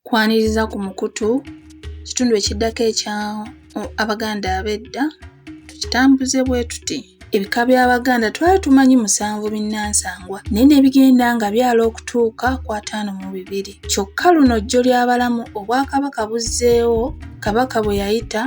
Kwaniriza ku mukutu kitundu ekiddako ekya Abaganda ab'edda tukitambuze bwe tuti. Ebika by'Abaganda twali tumanyi musanvu binnansangwa naye ne bigenda nga byala okutuuka ku ataano mu bibiri. Kyokka luno jjo ly'abalamu Obwakabaka buzzeewo Kabaka bwe yayita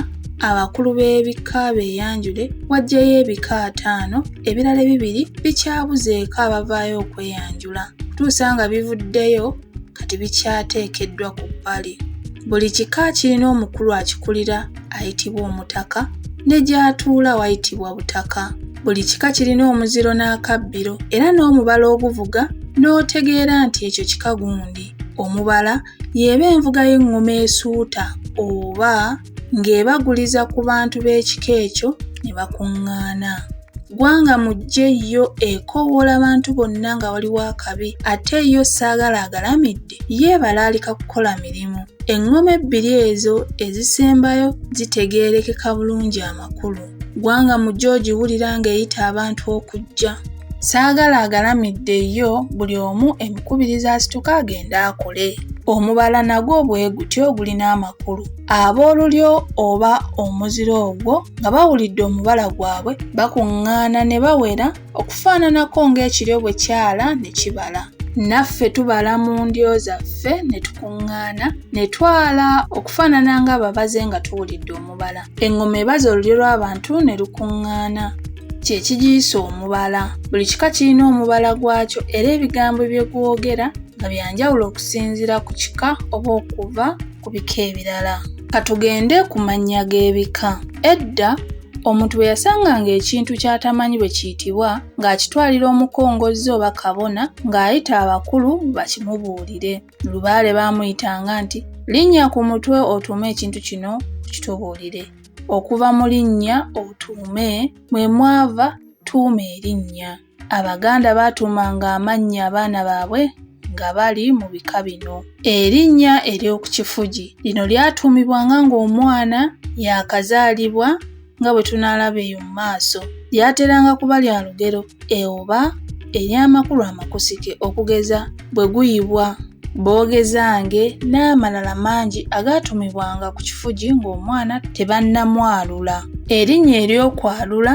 abakulu b'ebika beeyanjule wajjayo ebika ataano ebirala ebibiri bikyabuzeeko abavaayo okweyanjula okutuusa nga bivuddeyo kati bikyateekeddwa ku bbali. Buli kika kirina omukulu akikulira ayitibwa omutaka ne gy'atuula wayitibwa butaka. Buli kika kirina omuziro n'akabbiro era n'omubala oguvuga n'otegeera nti ekyo kika gundi. Omubala y'eba envuga y'eŋŋoma esuuta oba. ng'ebaguliza ku bantu b'ekika ekyo ne bakuŋŋaana. Ggwanga mujje yo ekoowoola abantu bonna nga waliwo akabi ate yo ssaagala agalamidde ye ebalaalika kukola mirimu. Eŋŋoma ebbiri ezo ezisembayo zitegeerekeka bulungi amakulu. Ggwanga mu gyo ogiwulira ng'eyita abantu okujja. Saagala agalamidde yo buli omu emikubiriza asituka agende akole. Omubala nagwo bwe gutyo gulina amakulu. Ab'olulyo oba omuzira ogwo nga bawulidde omubala gwabwe bakuŋŋaana ne bawera. okufaananako ng'ekiryo bwe kyala ne kibala. Naffe tubala mu ndyo zaffe ne tukuŋŋaana ne twala okufaanana ng'ababaze nga tuwulidde omubala. Eŋŋoma ebaza olulyo lw'abantu ne lukuŋŋaana. Kye kigiyisa omubala. Buli kika kirina omubala gwakyo era ebigambo bye gwogera nga bya njawulo okusinziira ku kika oba okuva ku bika ebirala. Ka tugende ku mannya g'ebika. Edda Omuntu bwe yasanganga ekintu ky'atamanyi bwe kiyitibwa ng'akitwalira omukongozzi oba kabona ng'ayita abakulu bakimubuulire. Lubaale baamuyitanga nti linnya ku mutwe otuume ekintu kino okitubuulire. Okuva mu linnya otuume mwe mwava tuuma erinnya. Abaganda baatuumanga amannya abaana baabwe nga bali mu bika bino. Erinnya ery'oku kifugi lino lyatuumibwanga ng'omwana yaakazaalibwa nga bwe tunaalaba eyo mu maaso. Lyateranga kuba lya lugero e oba ery'amakulu amakusike okugeza bwe guyibwa boogezange n'amalala mangi agaatumibwanga ku kifugi ng'omwana tebannamwalula erinnya ery'okwalula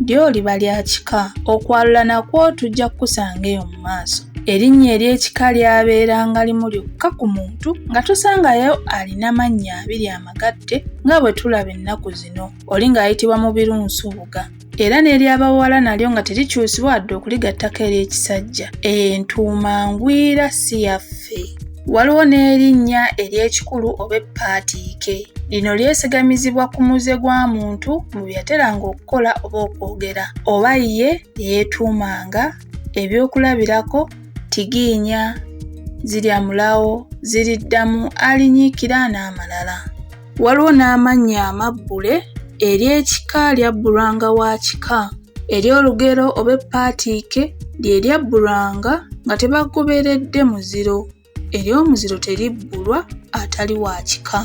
lyoliba lya kika okwalula nakwo tujja kukusanga eyo mu maaso erinnya ery'ekika lyabeeranga limu lyokka ku muntu nga tosangayo alina mannya abiri amagatte nga bwe tulaba ennaku zino oli ng'ayitibwa mu birunsubuga era n'ery'abawala nalyo nga terikyusibwa wadde okuligattako ery'ekisajja entuuma ngwira si yaffe waliwo n'erinnya ery'ekikulu oba eppaatiike lino lyesigamizibwa ku muze gwa muntu mu bye yateranga okukola oba okwogera oba ye eyeetuumanga ebyokulabirako tigiinya zirya mulawo ziriddamu alinyiikira n'amalala Waliwo n'amannya amabbule ery'ekika lyabbulwanga wa kika. Ery'olugero oba eppaatiike lye lyabbulwanga nga tebagoberedde muziro. Ery'omuziro teribbulwa atali wa kika.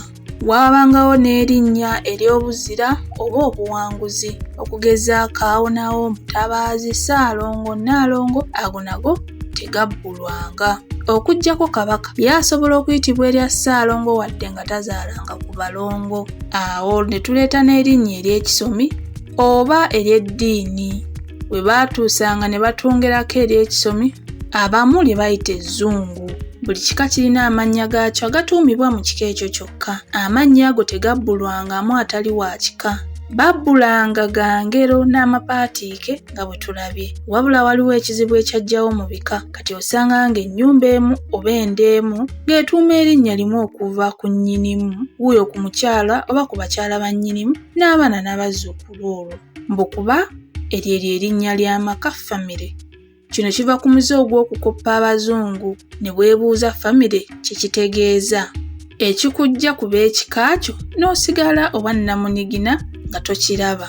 Waabangawo n'erinnya ery'obuzira oba obuwanguzi. Okugeza Kaawonawo, Mutabaazi, Ssaalongo, Nnaalongo ago nago tegabbulwanga. Okuggyako Kabaka, ye asobola okuyitibwa erya Ssaalongo wadde nga nga tazaalanga ku balongo awo ne tuleeta n'erinnya ery'ekisomi oba ery'eddiini we baatuusanga ne batungerako ery'ekisomi abamu lye bayita ezzungu buli kika kirina amannya gaakyo agatuumibwa mu kika ekyo kyokka amannya ago tegabbulwangamu atali wa kika babbulanga ga ngero n'amapaatiike nga bwe tulabye wabula waliwo ekizibu ekyajjawo mu bika kati osanga ng'ennyumba emu oba enda emu ng'etuuma erinnya limu okuva ku nnyinimu wuuyo ku mukyala oba ku bakyala ba nnyinimu n'abaana n'abazzukulu olwo mbu kuba eryo eryo erinnya ly'amaka famire kino kiva ku muze ogw'okukoppa abazungu ne bwebuuza famire kye kitegeeza ekikujja ku b'ekika kyo n'osigala obwannamunigina nga tokiraba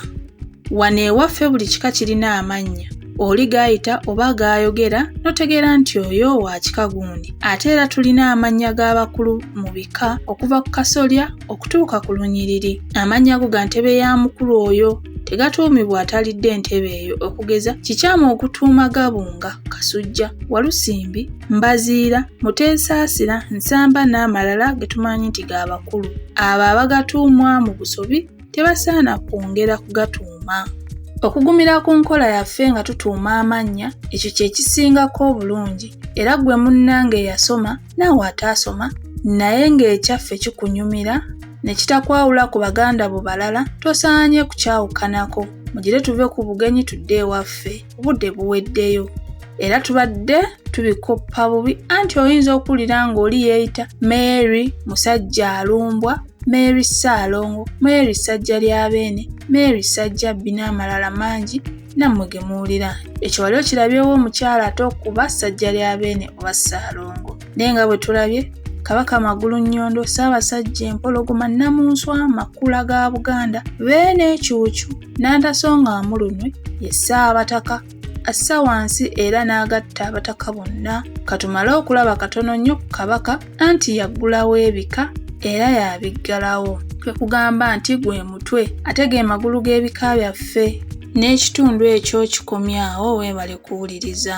wano ewaffe buli kika kirina amannya oli gaayita oba gaayogera n'otegeera nti oyo wa kika gundi ate era tulina amannya g'abakulu mu bika okuva ku kasolya okutuuka ku lunyiriri amannya go ga ntebe ya mukulu oyo tegatuumibwa atalidde entebe eyo okugeza kikyamu okutuuma gabunga kasujja walusimbi mbaziira muteesaasira nsamba n'amalala ge tumanyi nti ga bakulu abo abagatuumwa mu busobi tebasaana kwongera kugatuuma. Okugumira ku nkola yaffe nga tutuuma amannya ekyo kye kisingako obulungi era ggwe munnange eyasoma naawe ataasoma naye ng'ekyaffe kikunyumira ne kitakwawula ku baganda bo balala tosaanye kukyawukanako mugire tuve ku bugenyi tudde ewaffe obudde buweddeyo era tubadde tubikoppa bubi anti oyinza okuwulira ng'oli yeeyita mary musajja alumbwa Mary Ssaalongo, Mary Ssajjalyabeene, Mary Ssajjabbi n'amalala mangi nammwe ge muwulira. Ekyo wali okirabyewo omukyala ate okuba Ssajjalyabeene oba Ssaalongo. Naye nga bwe tulabye, Kabaka Magulunnyondo, Ssaabasajja Empologoma, Nnamunswa, Makula ga Buganda, Beene, Cuucu, Nnantaso nga Mulunwe ye Ssaabataka. assa wansi era n'agatta abataka bonna katumale okulaba katono nnyo ku kabaka anti yaggulawo ebika era yabiggalawo kwe kugamba nti gwe mutwe ate ge magulu g'ebika byaffe n'ekitundu ekyo kikomyawo weebale kuwuliriza